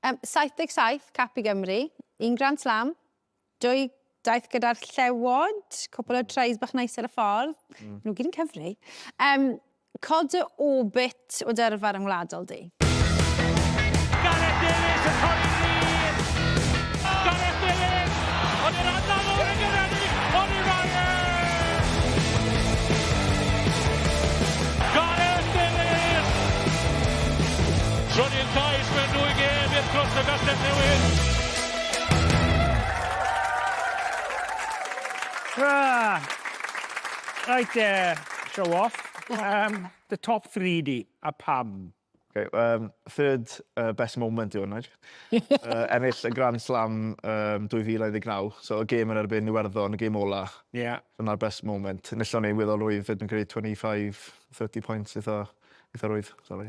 Ym 77, cap i Gymru, un Grand Slam, dwy daith gyda'r Llewod, cwpl o tries bach neis ar y ffordd, mm. nhw gyd yn cyfri. Um, cod y orbit o dyrfa rhwng wladol di. Gareth Davies yn torri glir! Gareth Davies! Ond yr adnod o'r yn gyrraeddu! Ond i'r Gareth Davies! Trydydd cais Mae dwy gêm i'r clwb y Gastell Newydd. Tra! Right there, show off. Um, the top three di, a pam? Okay, um, third uh, best moment yw hwnna. uh, ennill y Grand Slam um, 2019, so y gêm yn erbyn Iwerddon, y gêm ola. Yeah. Dyna'r best moment. Nillon ni weddol rwydd, fyd yn gwneud 25, 30 points eitha, eitha rwydd, sorry.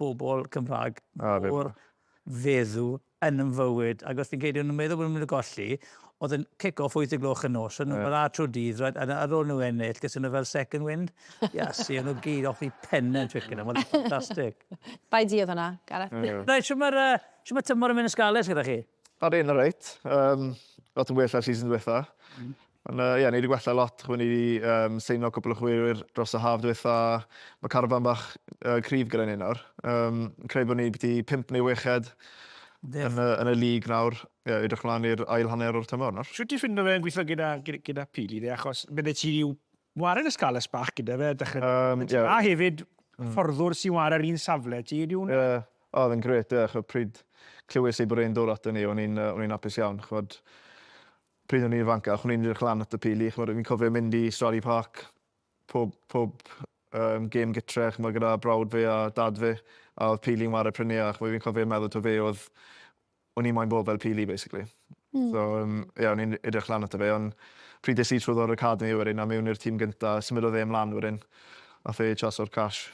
bobl Cymraeg o'r feddw yn yn fywyd. Ac os fi'n credu o'n nhw'n meddwl bod nhw'n mynd i golli, oedd yn cic-off wyth y gloch y nos, o'n nhw'n bara tro dydd, right? a ar ôl nhw ennill, gysyn nhw fel second wind. Iasu, o'n nhw gyd off i pen yn Twickenham, oedd yn ffantastig. Bai di oedd hwnna, Gareth. Right, sy'n mae'r uh, tymor yn mynd yn scarlet gyda chi? Ar un ar reit. Um, lot yn well ar season diwetha. Mm. Ond uh, yeah, ni wedi gwella lot. Chwe ni wedi um, seino cwpl o chwyrwyr dros y haf diwetha. Mae carfan bach uh, cryf gyda ni nawr. Um, creu bod ni byti 5 neu 6 ed yn, uh, yn y lig nawr. Yeah, edrych mlaen i'r ail hanner o'r tymor nawr. Siwt ti ffindo fe'n gweithio gyda, gyda, gyda pili, de, achos bydde ti rhyw Wared y Scarlets bach gyda fe dechrau Ie, ie. A hefyd fforddwr sy'n ware yr un safle ti, ydy hwnna? Ie, o oedd e'n grêt ie, ch'od pryd clywes i bod e'n dod aton ni o'n i'n yy o'n i'n apus iawn ch'od pryd o'n i'n ifancach o'n i'n edrych lan at y Pili ch'mod fi'n cofio mynd i Stradley Park pob pob yym gêm gytre ch'mod gyda brawd fi a dad fi a oedd Pili'n ware prynu a ch'mod fi'n cofio meddwl taw fe oedd o'n i moyn bod fel Pili basically. Hmm. So um, ie, o'n i'n edrych lan ato fe, ond pryd des i trwy o'r academi wedyn a mewn i'r tîm gynta, symudodd e ymlaen wedyn. A fe chas o'r cash.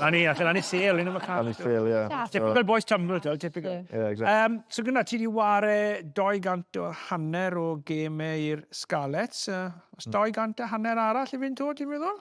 Na ni, allan ni sel, un am y cash. Allan ni sel, ie. Typical boys tumble, to, typical. Yeah, exactly. Um, so gyda ti di ware 200 o hanner o gemau i'r Scarlets. Uh, os 200 hmm. a hanner arall i fynd to, ti'n meddwl?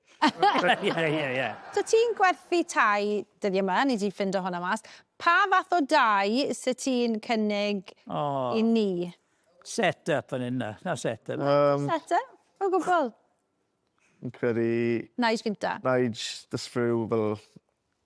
Ie, ie, ie. So ti'n gwerthu tai dyddiau yma, ni di ffindo hwnna mas. Pa fath o dai sy ti'n cynnig i ni? Set up fan hyn, na set up. Set up, o gwbl. Fi'n credu... Nige finta. Nige, this rhyw fel...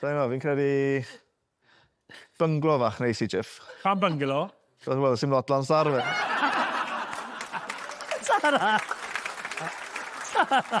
Sain gwbo, fi'n credu bynglo fach neis i Jiff. Pam bynglo? Cos wel, sim lot lan star fe. Tara! Tara!